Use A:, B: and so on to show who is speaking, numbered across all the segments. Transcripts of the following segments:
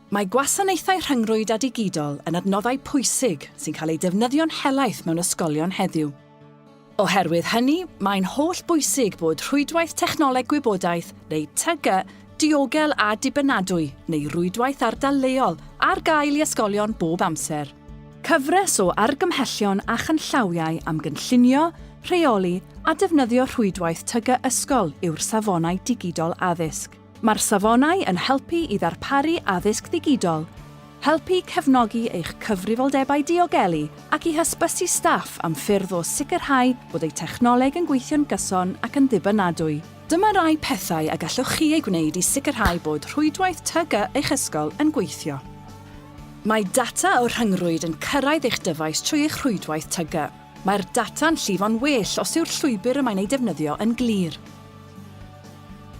A: Mae gwasanaethau rhyngrwyd a digidol yn adnoddau pwysig sy'n cael eu defnyddio'n helaeth mewn ysgolion heddiw. Oherwydd hynny, mae'n hollbwysig bod Rhwydwaith Technoleg Gwybodaeth, neu TG, diogel a dibynadwy, neu rwydwaith ardal leol, ar gael i ysgolion bob amser. Cyfres o argymhellion a chanllawiau am gynllunio, rheoli a defnyddio rhwydwaith TG ysgol yw'r Safonau Digidol Addysg. Mae'r safonau yn helpu i ddarparu addysg ddigidol, helpu i cefnogi eich cyfrifoldebau diogelu ac i hysbysu staff am ffyrdd o sicrhau bod eu technoleg yn gweithio'n gyson ac yn ddibynadwy. Dyma rai pethau y gallwch chi eu gwneud i sicrhau bod rhwydwaith TG eich ysgol yn gweithio. Mae data o rhyngrwyd yn cyrraedd eich dyfais trwy eich rhwydwaith TG. Mae'r data'n llifo'n well os yw'r llwybr y mae'n ei defnyddio yn glir.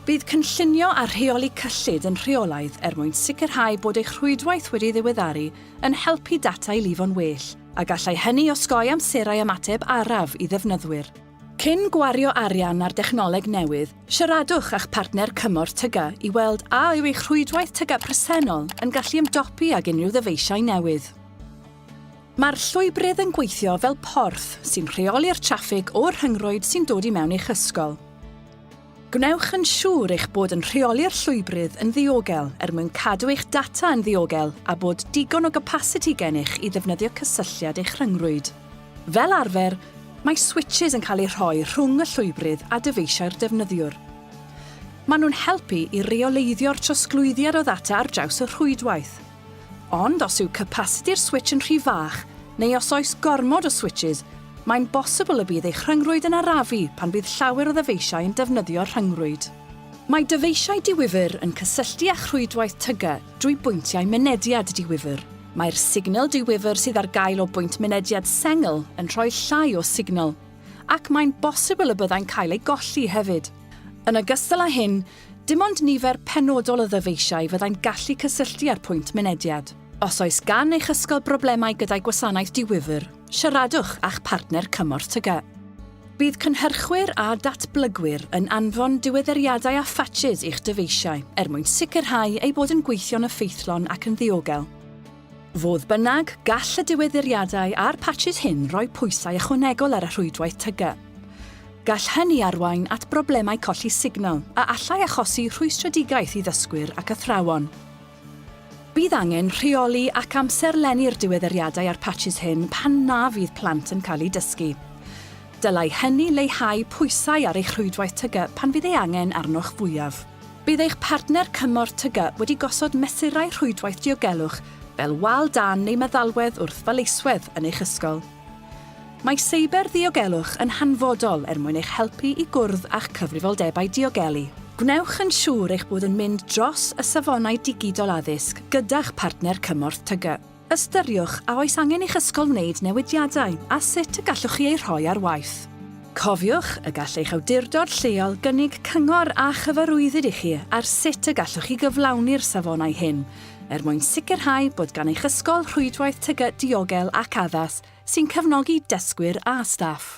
A: Bydd cynllunio a rheoli cyllid yn rheolaidd er mwyn sicrhau bod eich rhwydwaith wedi'i ddiweddaru yn helpu data i lifo'n well, a gallai hynny osgoi amserau ymateb araf i ddefnyddwyr. Cyn gwario arian ar dechnoleg newydd, siaradwch â'ch partner cymorth TGAU i weld a yw eich rhwydwaith TGAU presennol yn gallu ymdopi ag unrhyw ddyfeisiau newydd. Mae'r llwybrydd yn gweithio fel porth sy'n rheoli'r traffig o'r rhyngrwyd sy'n dod i mewn i'ch ysgol. Gwnewch yn siŵr eich bod yn rheoli'r llwybrydd yn ddiogel er mwyn cadw eich data yn ddiogel a bod digon o gapasiti gennych i ddefnyddio cysylltiad eich rhyngrwyd. Fel arfer, mae switsys yn cael eu rhoi rhwng y llwybrydd a dyfeisiau'r defnyddiwr. Maen nhw'n helpu i reoleiddio'r trosglwyddiad o ddata ar draws y rhwydwaith. Ond os yw capasiti'r switsh yn rhy fach, neu os oes gormod o switshys, mae'n bosibl y bydd eich rhyngrwyd yn arafu pan fydd llawer o ddyfeisiau yn defnyddio'r rhyngrwyd. Mae dyfeisiau diwifr yn cysylltu â'ch rhwydwaith TGA drwy bwyntiau mynediad diwifr. Mae'r signal diwifr sydd ar gael o bwynt mynediad sengl yn rhoi llai o signal, ac mae'n bosibl y byddai'n cael ei golli hefyd. Yn ogystal â hyn, Dim ond nifer penodol o ddyfeisiau fyddai'n gallu cysylltu â'r pwynt mynediad. Os oes gan eich ysgol broblemau gyda'i gwasanaeth di-wifr, siaradwch â'ch partner cymorth TGAU. Bydd cynhyrchwyr a datblygwyr yn anfon diweddariadau a phatshys i'ch dyfeisiau er mwyn sicrhau eu bod yn gweithio'n effeithlon ac yn ddiogel. Fodd bynnag, gall y diweddiriadau a'r patsys hyn roi pwysau ychwanegol ar y rhwydwaith TG. Gall hynny arwain at broblemau colli signal a allai achosi rhwystredigaeth i ddysgwyr ac athrawon. Bydd angen rheoli ac amserlennu'r diweddiriadau a'r patsys hyn pan na fydd plant yn cael eu dysgu. Dylai hynny leihau pwysau ar eich rhwydwaith TG pan fydd ei angen arnoch fwyaf. Bydd eich partner cymorth TGAU wedi gosod mesurau rhwydwaith diogelwch fel wal dân neu meddalwedd wrth faleiswedd yn eich ysgol. Mae seiberddiogelwch yn hanfodol er mwyn eich helpu i gwrdd â'ch cyfrifoldebau diogelu. Gwnewch yn siŵr eich bod yn mynd dros y safonau digidol addysg gyda'ch partner cymorth TGAU. Ystyriwch a oes angen i'ch ysgol wneud newidiadau a sut y gallwch chi eu rhoi ar waith. Cofiwch y gall eich awdurdod lleol gynnig cyngor a chyfarwyddyd i chi ar sut y gallwch chi gyflawni'r safonau hyn er mwyn sicrhau bod gan eich ysgol rhwydwaith TGAU diogel ac addas sy'n cefnogi dysgwyr a staff.